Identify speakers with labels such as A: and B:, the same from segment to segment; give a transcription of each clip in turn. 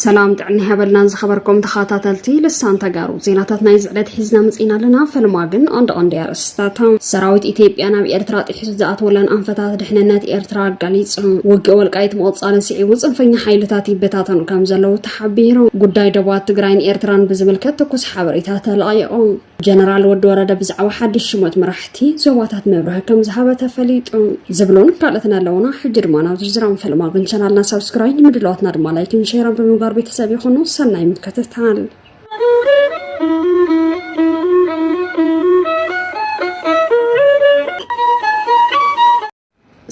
A: ሰላም ጥዕና ይሃበልናን ዝኸበርኩም ተኸታተልቲ ልሳን ተጋሩ ዜናታት ናይ ዝዕለት ሒዝና መፅና ኣለና ፈልማ ግን ኣንድ ቀንዲ ኣርእስታት ሰራዊት ኢትዮጵያ ናብ ኤርትራ ጥሒሱ ዝኣተወለን ኣንፈታት ድሕንነት ኤርትራ ኣጋሊፁ ውግእ ወልቃይት ምቕፃልን ስዒቡ ፅንፈኛ ሓይልታት ይበታተኑ ከም ዘለዉ ሓቢሩ። ጉዳይ ዶባት ትግራይን ኤርትራን ብዝምልከት ትኩስ ሓበሬታ ተለቒቑ። ጀነራል ወዲ ወረደ ብዛዕባ ሓድሽ ሽሞት መራሕቲ ዞባታት መብርሂ ከም ዝሃበ ተፈሊጡ። ዝብሉን ካልኦትን ኣለዉና። ሕጂ ድማ ናብ ዝርዝሮም ፈልማ ግን ቻናልና ሳብስክራይብ ንምድለዋትና ድማ ላይክን ሼርን ብምግባር ቤተሰብ ይኹኑ። ሰናይ ምክትታል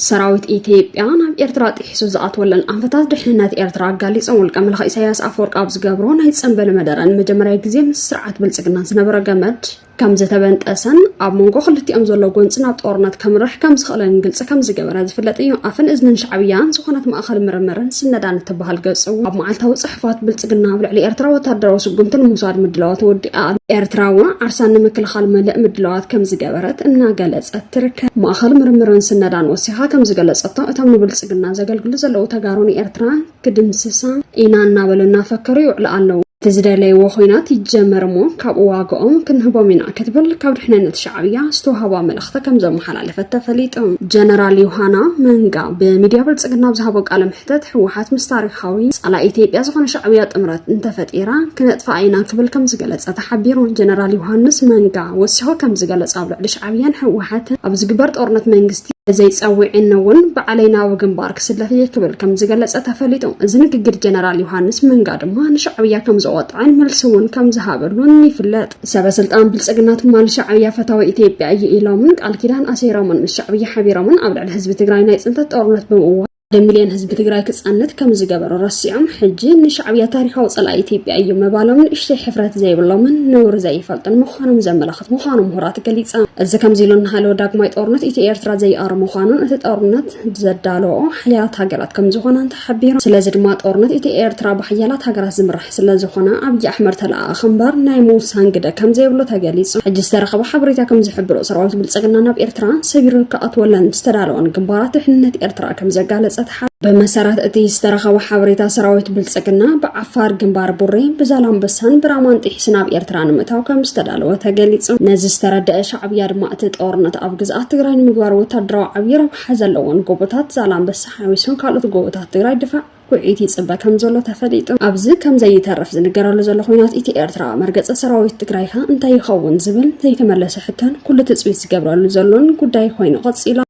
A: ሰራዊት ኢትዮጵያ ናብ ኤርትራ ጥሒሱ ዝኣትወለን ኣንፈታት ድሕንነት ኤርትራ ኣጋሊፆም ውልቀ መላኺ ኢሳያስ ኣፈወርቂ ኣብ ዝገብሮ ናይ ፀንበል መደረ ንመጀመርያ ግዜ ምስ ስርዓት ብልፅግና ዝነበረ ገመድ ከም ዝተበንጠሰን ኣብ መንጎ ክልቲኦም ዘሎ ጎንፂ ናብ ጦርነት ከምርሕ ከም ዝኽእልን ግልፂ ከም ዝገበረ ዝፍለጥ እዩ ኣፍን እዝንን ሻዕብያን ዝኾነት ማእኸል ምርምርን ስነዳን እትበሃል ገፅ እውን ኣብ መዓልታዊ ፅሑፋት ብልፅግና ኣብ ልዕሊ ኤርትራ ወታደራዊ ስጉምቲ ንምውሳድ ምድላዋ ተወዲኣ ኤርትራ እውን ዓርሳ ንምክልኻል መልእ ምድላዋት ከም ዝገበረት እናገለፀት ትርከብ። ማእኸል ምርምርን ስነዳን ወሲኻ ከም ዝገለፀቶ እቶም ንብልፅግና ዘገልግሉ ዘለዉ ተጋሩ ንኤርትራ ክድምስሳ ኢና እናበሉ እናፈከሩ ይውዕሉ ኣለዉ። እቲ ዝደለይዎ ኹናት ይጀመር እሞ ካብኡ ዋግኦም ክንህቦም ኢና ክትብል ካብ ድሕንነት ሻዕብያ ዝተውሃባ መልእኽቲ ከም ዘመሓላለፈት ተፈሊጡ። ጀነራል ዮሃና መንጋ ብሚድያ ብልፅግና ኣብ ዝሃቦ ቃለ ክተት ህወሓት ምስ ታሪኻዊ ፀላኢ ኢትዮጵያ ዝኾነ ሻዕብያ ጥምረት እንተፈጢራ ክነጥፍኣ ኢና ክብል ከምዝገለፀ ተሓቢሩ። ጀነራል ዮሃንስ መንጋ ወሲኹ ከምዝገለፆ ኣብ ልዕሊ ሻዕብያን ህወሓትን ኣብ ዝግበር ጦርነት መንግስቲ ዘይፀዊዕኒ እውን ባዕለይ ናብ ግንባር ክስለፍ እየ ክብል ከምዝገለፀ ተፈሊጡ። እዚ ንግግር ጀነራል ዮሃንስ መንጋ ድማ ንሻዕብያ ከምዘቆጠዐን መልሲ እውን ከምዝሃበሉን ይፍለጥ። ሰበስልጣን ብልፅግና ትማሊ ሻዕብያ ፈታዊ ኢትዮጵያ እዩ ኢሎምን ቃል ኪዳን ኣሲሮምን ምስ ሻዕብያ ሓቢሮምን ኣብ ልዕሊ ህዝቢ ትግራይ ናይ ፅንተት ጦርነት ብምእዋጅ ሓደ ሚልዮን ህዝቢ ትግራይ ክፃነት ከም ዝገበሩ ረሲዖም ሕጂ ንሻዕብያ ታሪኻዊ ፀላኢ ኢትዮጵያ እዩ ምባሎም ንእሽተይ ሕፍረት ዘይብሎምን ነውሪ ዘይፈልጡን ምዃኖም ዘመላኽት ምዃኑ ምሁራት ገሊፆም። እዚ ከምዚ ኢሉ እናሃለወ ዳግማይ ጦርነት ኢትዮ ኤርትራ ዘይኣሩ ምዃኑን እቲ ጦርነት ዘዳለዎ ሓያላት ሃገራት ከም ዝኾናን ተሓቢሩ። ስለዚ ድማ ጦርነት ኢትዮ ኤርትራ ብሓያላት ሃገራት ዝምራሕ ስለዝኾነ ኣብዪ ኣሕመድ ተለኣኣኺ እምበር ናይ ምውሳን ግደ ከምዘይብሉ ተገሊጹ። ሕጂ ዝተረኸበ ሓበሬታ ከምዝሕብሮ ሰራዊት ብልጽግና ናብ ኤርትራ ሰቢሩ ክኣትወለን ዝተዳለወን ግንባራት ድሕንነት ኤርትራ ከምዘጋለጸ ተሓ ብመሰረት እቲ ዝተረኸበ ሓበሬታ ሰራዊት ብልጽግና ብዓፋር ግንባር ቡሬ ብዛላምበሳን ብራማን ጢሒስ ናብ ኤርትራ ንምእታው ከም ዝተዳለወ ተገሊጹ። ነዚ ዝተረደአ ሻዕብያ ድማ እቲ ጦርነት ኣብ ግዝኣት ትግራይ ንምግባር ወታደራዊ ዓብዪ ረብሓ ዘለዎን ጎቦታት ዛላምበሳ ሓዊሱን ካልኦት ጎቦታት ትግራይ ድፋዕ ውዕኢት ይጽበ ከምዘሎ ተፈሊጡ ኣብዚ ከም ዘይተርፍ ዝንገረሉ ዘሎ ኹናት ኢቲ ኤርትራ፣ መርገጺ ሰራዊት ትግራይ'ኸ እንታይ ይኸውን ዝብል ዘይተመለሰ ሕቶን ኩሉ ትጽቢት ዝገብረሉ ዘሎን ጉዳይ ኾይኑ ቀጺሉ ኣሎ።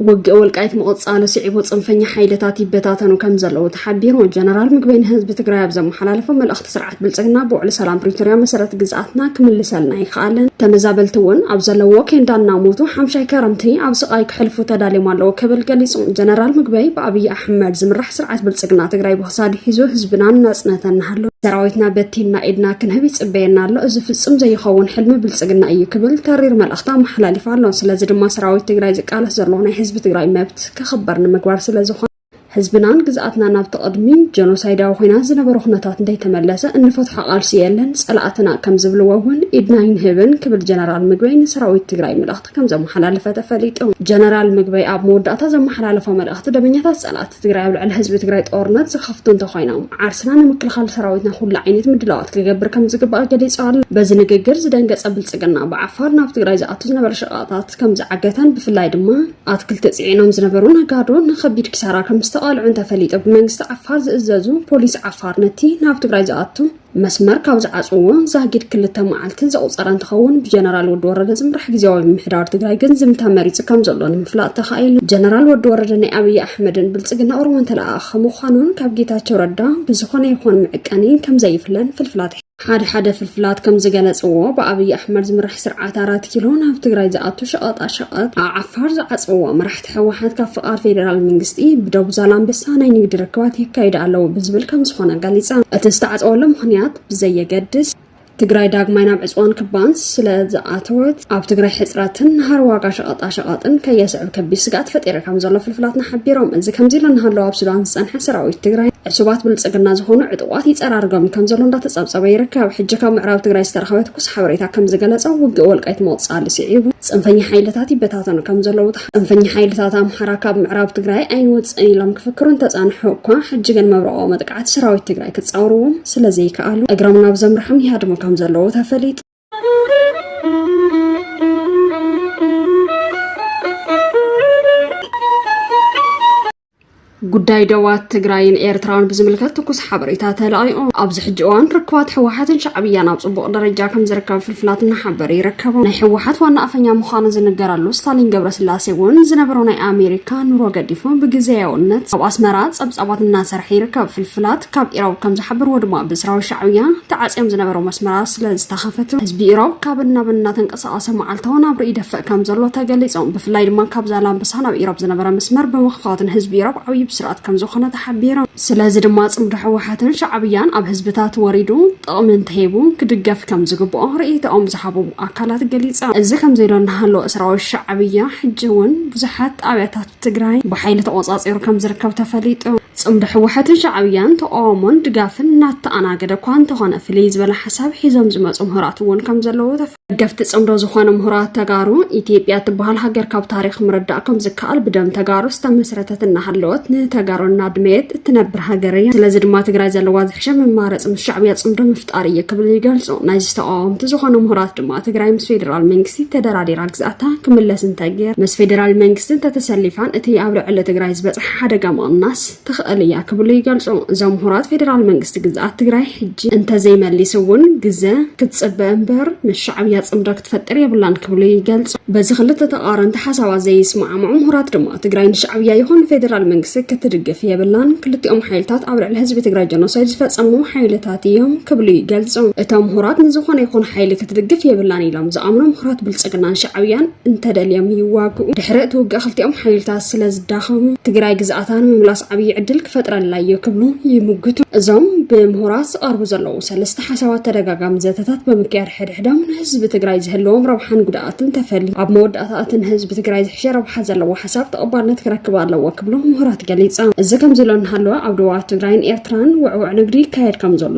A: ውግእ ወልቃይት ምቕፃሉ ስዒቡ ፅንፈኛ ሓይልታት ይበታተኑ ከም ዘለዉ ተሓቢሩ። ጀነራል ምግበይ ንህዝቢ ትግራይ ኣብ ዘመሓላለፎ መልእኽቲ ስርዓት ብልፅግና ብውዕሊ ሰላም ፕሪቶርያ መሰረት ግዝኣትና ክምልሰልና ይክኣለን፣ ተመዛበልቲ እውን ኣብ ዘለዎ ኬንዳ እናሞቱ ሓምሻይ ከረምቲ ኣብ ስቓይ ክሕልፉ ተዳልዮም ኣለዉ ክብል ገሊፁ። ጀነራል ምግበይ ብኣብይ ኣሕመድ ዝምራሕ ስርዓት ብልፅግና ትግራይ ብክሳዱ ሒዙ ህዝብናን ናፅነት እናሃለወ ሰራዊትና በቲንና ኢድና ክንህብ ይፅበየና ኣሎ፣ እዚ ፍፁም ዘይኸውን ሕልሚ ብልፅግና እዩ ክብል ተሪር መልእኽቲ መልእኽቱ ኣመሓላሊፉ ኣሎ። ስለዚ ድማ ሰራዊት ትግራይ ዝቃለስ ዘሎ ናይ ህዝቢ ትግራይ መብት ክኽበር ንምግባር ስለዝኾነ ህዝብናን ግዝኣትና ናብቲ ቅድሚ ጀኖሳይዳዊ ኩናት ዝነበረ ኩነታት እንተይተመለሰ እንፈትሖ ቃልሲ የለን ፀላእትና ከም ዝብልዎ እውን ኢድና ይንህብን ክብል ጀነራል ምግበይ ንሰራዊት ትግራይ መልእኽቲ ከም ዘመሓላለፈ ተፈሊጡ። ጀነራል ምግበይ ኣብ መወዳእታ ዘመሓላለፎ መልእኽቲ ደበኛታት ፀላእቲ ትግራይ ኣብ ልዕሊ ህዝቢ ትግራይ ጦርነት ዝኸፍቱ እንተኾይኖም ዓርስና ንምክልኻል ሰራዊትና ኩሉ ዓይነት ምድላዋት ክገብር ከም ዝግባእ ገሊፆም። በዚ ንግግር ዝደንገፀ ብልፅግና ብዓፋር ናብ ትግራይ ዝኣቱ ዝነበረ ሸቐጣት ከም ዝዓገተን ብፍላይ ድማ ኣትክልቲ ፅዒኖም ዝነበሩ ነጋዶ ንከቢድ ኪሳራ ከም ዝተቓልዑን ተፈሊጡ። ብመንግስቲ ዓፋር ዝእዘዙ ፖሊስ ዓፋር ነቲ ናብ ትግራይ ዝኣቱ መስመር ካብ ዝዓፅዎ ዛጊድ ክልተ መዓልቲ ዘቑፀረ እንትኸውን ብጀነራል ወዲ ወረደ ዝምራሕ ግዜያዊ ምሕዳር ትግራይ ግን ዝምታ መሪፂ ከም ዘሎ ንምፍላጥ ተኻኢሉ። ጀነራል ወዲ ወረደ ናይ ኣብይ ኣሕመድን ብልፅግና ኦሮሞን ተለኣኣኺ ምዃኑን ካብ ጌታቸው ረዳ ብዝኾነ ይኹን መዕቀኒ ከም ዘይፍለን ፍልፍላት ሓደ ሓደ ፍልፍላት ከም ዝገለጽዎ ብኣብይ ኣሕመድ ዝምራሕ ስርዓት ኣራት ኪሎ ናብ ትግራይ ዝኣቱ ሸቐጣ ሸቐጥ ኣብ ዓፋር ዝዓጽዎ መራሕቲ ህወሓት ካብ ፍቓድ ፌዴራል መንግስቲ ብደቡብ ዛላምበሳ ናይ ንግዲ ርክባት የካይዱ ኣለዉ ብዝብል ከም ዝኾነ ገሊፃ። እቲ ዝተዓፀወሉ ምኽንያት ብዘየገድስ ትግራይ ዳግማይ ናብ ዕፅዋን ክባን ስለ ዝኣተወት ኣብ ትግራይ ሕፅረትን ንሃር ዋጋ ሸቐጣሸቐጥን ከየስዕብ ከቢድ ስግኣት ፈጢሩ ከም ዘሎ ፍልፍላትና ሓቢሮም። እዚ ከምዚ ኢሉ እናሃለወ ኣብ ሱዳን ዝፀንሐ ሰራዊት ትግራይ ዕሱባት ብልፅግና ዝኾኑ ዕጡቋት ይፀራርጎም ከም ዘሎ እንዳተፀብፀበ ይርከብ። ሕጂ ካብ ምዕራብ ትግራይ ዝተረኸበ ትኩስ ሓበሬታ ከም ዝገለፆ ውግእ ወልቃይት መቑፃሊ ስዒቡ ፅንፈኛ ሓይልታት ይበታ ይበታተኑ ከም ዘለዉ ፅንፈኛ ሓይልታት ኣምሓራ ካብ ምዕራብ ትግራይ ኣይንወፅእን ኢሎም ክፍክሩ እንተፃንሑ እኳ ሕጂ ግን መብረቆ መጥቃዕቲ ሰራዊት ትግራይ ክፃወርዎም ስለዘይከኣሉ እግሮም ናብ ዘምርሖም ይሃድሙ ከም ዘለዉ ተፈሊጡ ጉዳይ ደባት ትግራይን ኤርትራን ብዝምልከት ትኩስ ሓበሬታ ተላኢቑ ኣብዚ ሕጂ እዋን ርክባት ህወሓትን ሻዕብያን ኣብ ፅቡቕ ደረጃ ከም ዝርከብ ፍልፍላት እናሓበረ ይርከቡ ናይ ህወሓት ዋና ኣፈኛ ምዃኑ ዝንገረሉ ስታሊን ገብረስላሴ እውን ዝነበሮ ናይ ኣሜሪካ ኑሮ ገዲፉ ብግዜያውነት ኣብ ኣስመራ ፀብፃባት እናሰርሐ ይርከብ ፍልፍላት ካብ ኢሮብ ከም ዝሓበርዎ ድማ ብስራዊ ሻዕብያ ተዓፅዮም ዝነበሩ መስመራት ስለ ዝተኸፈቱ ህዝቢ ኢሮብ ካብን ናብን እናተንቀ ዝሰቓሰ መዓልታዊ ናብርኡ ይደፍእ ከም ዘሎ ተገሊጾም። ብፍላይ ድማ ካብ ዛላምበሳ ናብ ኢሮብ ዝነበረ መስመር ብምኽፋቱ ንህዝቢ ኢሮብ ዓብዪ ብስራት ከም ዝኾነ ተሓቢሩ። ስለዚ ድማ ጽምዶ ህወሓትን ሻዕብያን ኣብ ህዝብታት ወሪዱ ጥቕሚ እንተሂቡ ክድገፍ ከም ዝግብኦ ርእይቶኦም ዝሃቡ ኣካላት ገሊጾም። እዚ ከምዚ ኢሉ እናሃለወ ሰራዊት ሻዕብያ ሕጂ እውን ብዙሓት ጣብያታት ትግራይ ብሓይሊ ተቖጻጺሩ ከም ዝርከብ ተፈሊጡ። ጽምዶ ህወሐትን ሻዕብያን ተቋውሞን ድጋፍን እናተኣናገደ እኳ እንተኾነ ፍልይ ዝበለ ሓሳብ ሒዞም ዝመፁ ምሁራት እውን ከም ዘለዉ ደገፍቲ ጽምዶ ዝኾኑ ምሁራት ተጋሩ ኢትዮጵያ እትበሃል ሃገር ካብ ታሪክ ምርዳእ ከም ዝከኣል ብደም ተጋሩ ዝተመስረተት እናሃለወት ንተጋሩ እናድመየት እትነብር ሃገር እያ። ስለዚ ድማ ትግራይ ዘለዋ ዝሕሸ መማረፂ ምስ ሻዕብያ ጽምዶ ጣር እየ ክብል ይገልጾ። ናይዚ ተቃዋምቲ ዝኾኑ ምሁራት ድማ ትግራይ ምስ ፌዴራል መንግስቲ ተደራዲራ ግዝኣታ ክምለስ እንተገይር ምስ ፌዴራል መንግስቲ እንተተሰሊፋን እቲ ኣብ ልዕሊ ትግራይ ዝበፅሐ ሓደጋ ምቕናስ ትኽእል እያ ክብሉ ይገልጹ። እዞም ምሁራት ፌዴራል መንግስቲ ግዝኣት ትግራይ ሕጂ እንተዘይመሊስ እውን ግዘ ክትፅበ እምበር ምስ ሻዕብያ ፅምዶ ክትፈጥር የብላን ክብሉ ይገልፁ። በዚ ክልተ ተቃረንቲ ሓሳባት ዘይስማዕምዑ ምሁራት ድማ ትግራይ ንሻዕብያ ይኹን ፌዴራል መንግስቲ ክትድግፍ የብላን፣ ክልቲኦም ሓይልታት ኣብ ልዕሊ ህዝቢ ትግራይ ጀኖሳይድ ዝፈፀሙ ሓይልታት ምሁራት እዮም ክብሉ ይገልፁ። እቶም ምሁራት ንዝኾነ ይኹን ሓይሊ ክትድግፍ የብላን ኢሎም ዝኣምኑ ምሁራት ብልፅግናን ሻዕብያን እንተደልዮም ይዋግኡ። ድሕሪ እቲ ውግእ ክልቲኦም ሓይልታት ስለ ዝዳኸሙ ትግራይ ግዝኣታ ንምምላስ ዓብዪ ዕድል ክፈጥረላ እዩ ክብሉ ይምግቱ። እዞም ብምሁራት ዝቐርቡ ዘለዉ ሰለስተ ሓሳባት ተደጋጋሚ ዘተታት ብምክያድ ሕድሕዶም ንህዝቢ ትግራይ ዝህልዎም ረብሓን ጉድኣትን ተፈልዩ ኣብ መወዳእታ እቲ ንህዝቢ ትግራይ ዝሕሸ ረብሓ ዘለዎ ሓሳብ ተቐባልነት ክረክብ ኣለዎ ክብሉ ምሁራት ገሊፆም። እዚ ከምዚ ኢሎ እናሃለወ ኣብ ዶባት ትግራይን ኤርትራን ውዕውዕ ንግዲ ይካየድ ከም ዘሎ